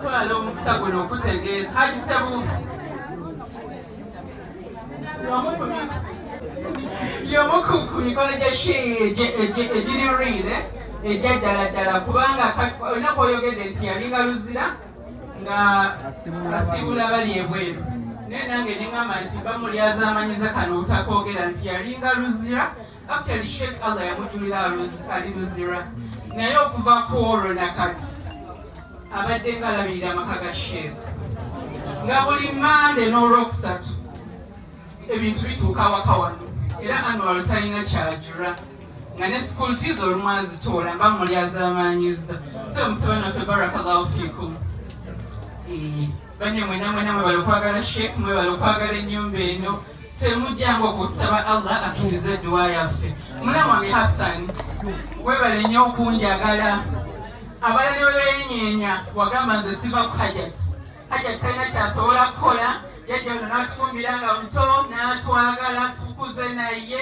Twala omukisa guno okutegeeza Haji Sebuufu y'omu ku mikolo egiri riire egya ddala ddala kubanga olina kwoyogedde nti yalinga luzira nga asiibula bali ebweru naye nange nengamba nti bamulyazamanyiza kano obutakogera nti yalinga luzira Actually Sheikh Allah yamutulira ali Luzira naye okuva ku olwo nakati abadde nga alabirira amaka ga Sheikh nga buli mande n'olwokusatu ebintu bituuka awaka wano era anwalo talina kyajura nga ne school fees olumu azitoola mba muli azamaanyiza so mutabani waffe barakallahu fikum banye mwena mwena mwebala okwagala sheikh mwebala okwagala ennyumba eno temujjangu okusaba allah akkiriza edduwa yaffe mulamu wange hassan webale nnyo okunjagala abala ne webeyinyenya wagamba nze siva ku hajat hajat talina kyasobola kukola yajja ono natufumbira nga muto natwagala tukuze naye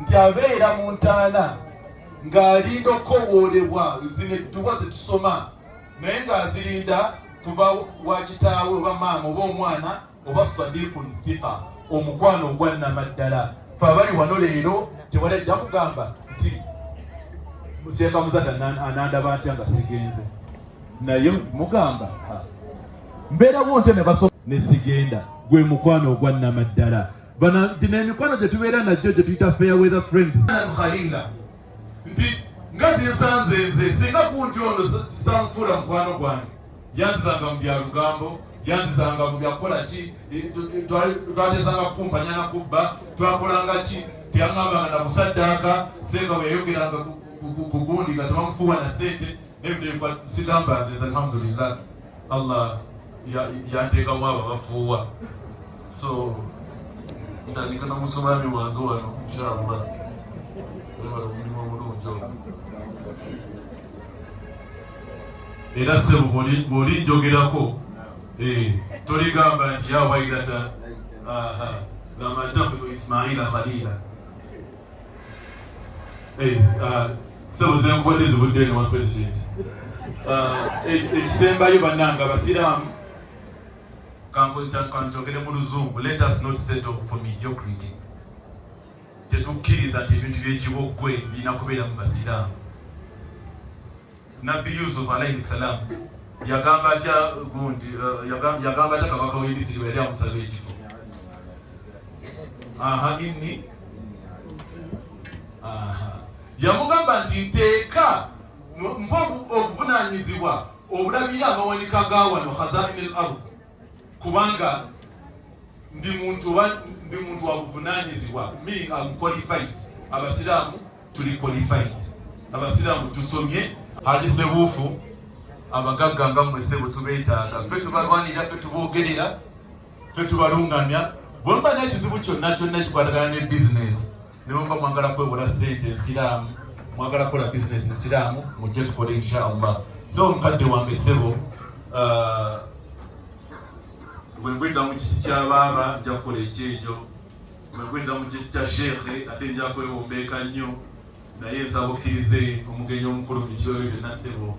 nti abeera mu ntaana ng'alinda okukowoolebwa zino edduwa ze tusoma naye ng'azirinda kuba wa kitaawe oba maama oba omwana oba sadiku thiqa omukwano ogwannama ddala fe abali wano leero tewali ajja kugamba nti museeka muzata anandaba ntya nga sigenze naye mugamba mbeerawo ntya ne baso ne sigenda gwe mukwano ogwannama ddala Bana gino emikwano gye tubeera najjo gye tuyita fair weather friends. Khalinga nti nga zinsanze nze singa kunti ono sanfuula mukwano gwange yanzizanga mu bya lugambo yanzizanga mu byakukola ki e, twatezanga kukumpanya na kubba twakolanga ki teyangambanga na kusaddaaka senga bwe yayogeranga ku gundi nga tebamufuuwa na sente Nebiteekwa sigamba nze nze alhamdulillah Allah yanteekamu abo abafuuwa so ntandika nomusumaami wange wano inshallah webala omulimu omulungi ogwo era sebo bwoli njogerako eh, toligamba nti yawairata gamba ntafuno ismaila khalila Eh, ah, sebo zenkubadde zivudde eno wa president ah, e, ekisembayo bannanga abasiraamu kankyogere mu luzungu let us not set off for mediocrity tetukkiriza nti ebintu byekiboggwe birina kubeera mu basiraamu Nabbi Yusuf alaihi salam yagamba atya gundi eh, yagamba atya kabaka w'e Misiri bwe yali amusaba ekifo aha inni aha yamugamba nti nteeka mpa obuvunaanyizibwa obulabira amawanika ga wano khazaini l ard kubanga ndi muntu ndi muntu wa buvunaanyizibwa mi amuqualified abasiraamu tuli qualified abasiraamu tusomye ali sebuufu abagagga nga mmwe sebo tubeetaaga ffe tubalwanira ffe tuboogerera ffe tubalungamya bwemba nekizibu kyonna kyonna kikwatagana ne bizinesi Newemba mwagala kwewola sente nsiraamu mwagala kukola bizinesi nsiraamu mujje tukole insha allah so omukadde wange sebo uh, wengwenda mu kiti kya baaba nja kukola ekyejo wengwenda mu kiti kya sheekhe ate nja kwewombeeka nnyo naye nsaba okkirize omugenyi omukulu mu kibayo byonna sebo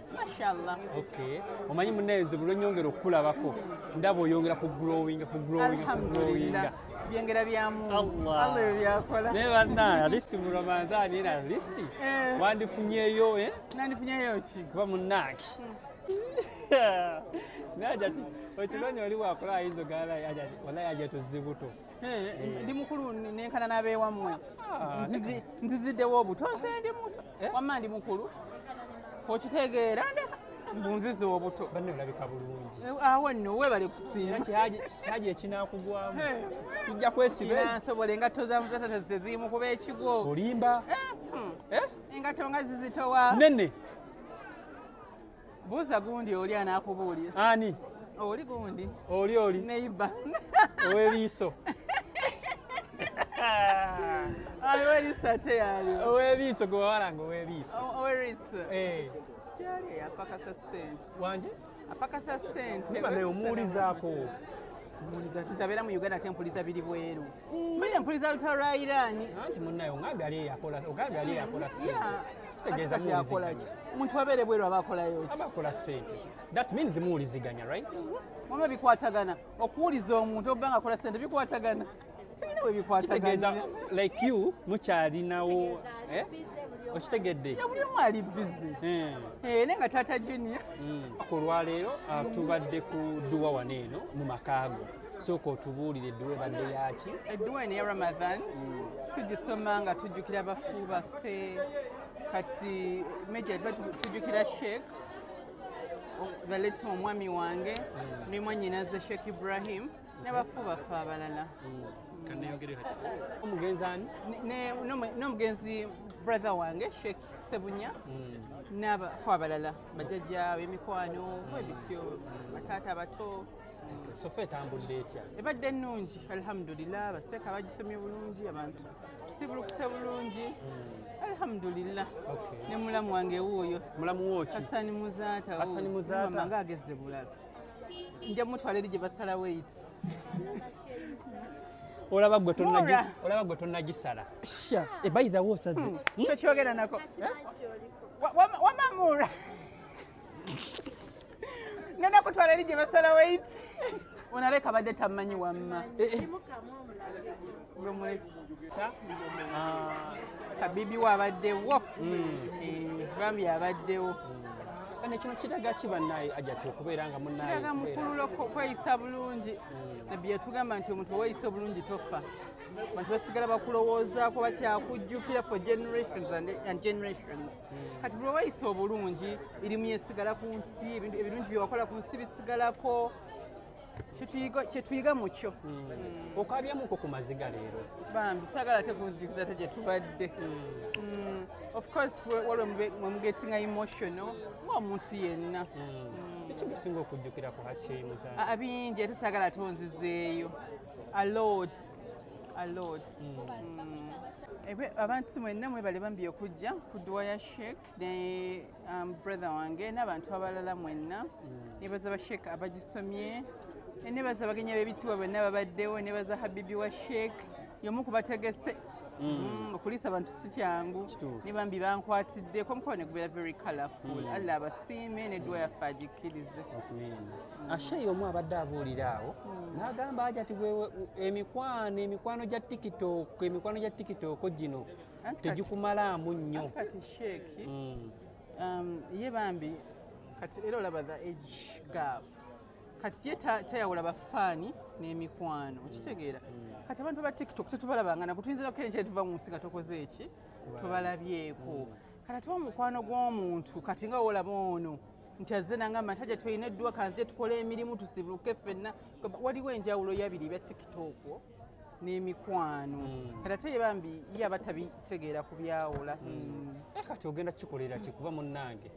mashallah okay omanyi munaye nze bulwenyongera okukulabako ndaba oyongera ku growing ku growing ku growing byengera byamu Allah byakola naye banna alisti mu ramadhani era alisti eh. wandifunyeyo eh? nandifunyeyo ki kuba munnange hmm. naye ajati okimanyi oli wakola ayinza ogala walayi ajati ozibuto Eh, ndi mukulu nenkana nabewammwe ah, nziziddewo obuto nze ndi muto eh? wamma ndi mukulu okitegeera bunzizi obuto banne olabika bulungi eh, awo nno webale kusiima kyagi ekinakugwamu kijja kwesibansobole engatto zamuzatatazteziimu kuba ekigwo olimba hmm. engatto nga zizitowa nene Buuza gundi oli anaakubuulira. Ani? Oli gundi. Oli oli. Neighbor. Ow'ebiiso. Ow'eriiso ate yaali. Ow'ebiiso gwe wawalanga ow'ebiiso. Ow'eriiso. Eh. Yaali eyapakasa ssente. Wanje? Apakasa ssente. Niba naye omuwulizaako. Omuwuliza ati zabeera mu Uganda ate mpuliza biri bweru. Mbadde mpuliriza lutalo lwa Iraani. Anti munnayo ng'ambi ali eyakola ogambye ali eyakola ssente. Kitegeeza muwuliziganya. Omuntu abeere bweru aba akolayo ki? Aba akola ssente. That means muwuliziganya right? Wama bikwatagana. Okuwuliza omuntu oba nga akola ssente bikwatagana. Tebina bwe bikwatagana. Kitegeeza like you mukyalinawo. Eh? okitegedde buli omu ali bizi eh. eh, naye nga taata junior hmm. ku lwaleero ah, tubadde ku duwa wano eno mu makaago sooka otubuulire edduwa ebadde yaki edduwa eno ya ramadan mm. tugisoma nga tujjukira bafu baffe kati meja tuba tujjukira sheek baletima omwami wange mm. ne mwanyinaze sheek ibrahim nebafu baffe abalala n'omugenzi brother wange sheik sebunya mm. n'abafu abalala bajajja b'emikwano bwebityo bataata bato sofa etambudde etya ebadde ennungi alhamdulillah baseeka bagisomye bulungi abantu sibulukuse bulungi hmm. alhamdulillah ne mulamu wange wuuyo mulamu woki asani muzaata asani muzaata mama ngagezze bulala nja mutwala eri gye basala weyiti olaba gwe olaba gwe tonagisala sha ebaidha eh, wosaze hmm. hmm? tokyogera nako eh? wamamuura ngenda kutwala eri gye basala wait onaleka badde tammanyi wamma eh, eh. ah, kabibi wabaddewo hmm. eh, bambi abaddewo kane kino kiraga ki bannaye ajati okubeera nga munnayeiraga mukululo kweyisa bulungi hmm. nabbi yatugamba nti omuntu oweyisa obulungi tofa abantu basigala bakulowoozaako bakyakujjukira for generations and generations kati buli weyisa obulungi erimu yesigala ku nsi ebirungi byewakola ku nsi bisigalako kyetuyiga mukyo hmm. okabyamuko ku maziga leero bambi sagala tekunzijukiza te gyetubadde hmm. Hmm. of course waliwo mwemugetinga emotional ngaomuntu yenna ekimusinga okujjukira ku hakimuza abingi ate sagala tonzizeeyo alot alot abantu mwenna mwebale bambi okujja ku dduwa ya sheik ne um, brother wange n'abantu abalala mwenna mm. nebaza ba sheik abagisomye nebaza abagenyi b'ebitiibwa bonna babaddewo nebaza habibi wa sheik yomu kubategese mm. mm, okuliisa abantu si kyangu ne bambi bankwatiddeko omukono ne gubeera very colorful allah abasiime n'edduwa yaffe agikkirize ashayi omu abadde abuulira awo hmm. n'agamba aja ti emikwano emikwano gya tiktok emikwano gya tiktok gino tegikumalaamu nnyo hmm. um, ye bambi kati era olaba the age gap kati ye tayawula bafaani n'emikwano okitegeera hmm. kati abantu ba tiktok tetubalabangana kutuyinzirako enkyere tuva mu nsi nga tokoze eki tubalabyeko kati ate omukwano gw'omuntu kati nga wolaba ono nti azze nangamba nti aja tulina edduwa kanze tukola emirimu tusibuke ffenna waliwo enjawulo yabiri ebya tiktok n'emikwano hmm. kati ate ye bambi ye aba tabitegeera ku byawula hmm. eh, kati ogenda kikolera ki kuba munnange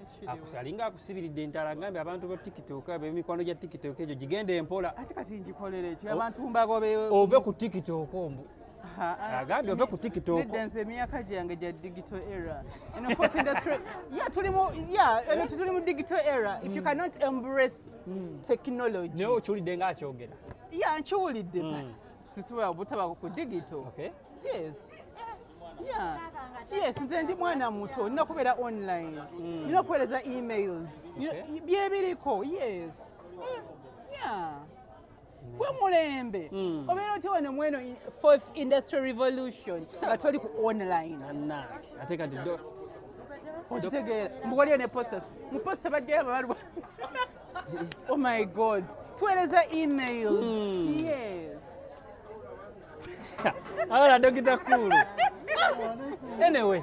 alinga akusibiridde entala ngambe abantu ba tiktok abemikwano gya tiktok egyo gigenda empola ate kati ngikolere ki abantu mbagobe ove ku tiktok ombu agambye ove ku tikitokonze emyaka gyange gya digital era tuli mu digital era if you mm. cannot embrace mm. technology naye okiwulidde nga akyogera ya nkiwulidde mm. but sisibola butabako ku digital yes yes nze ndi mwana muto nina kubeera online nina okuweereza emails byebiriko yes yeah gwe mulembe hmm. obeera otya wano mweno fourth industry revolution nga toli ku online ate kati okitegeera mbu waliyo ne postas mu posta bajjayo ababalwa oh my god tuweereza emails hmm. yes awola dokita kulu anyway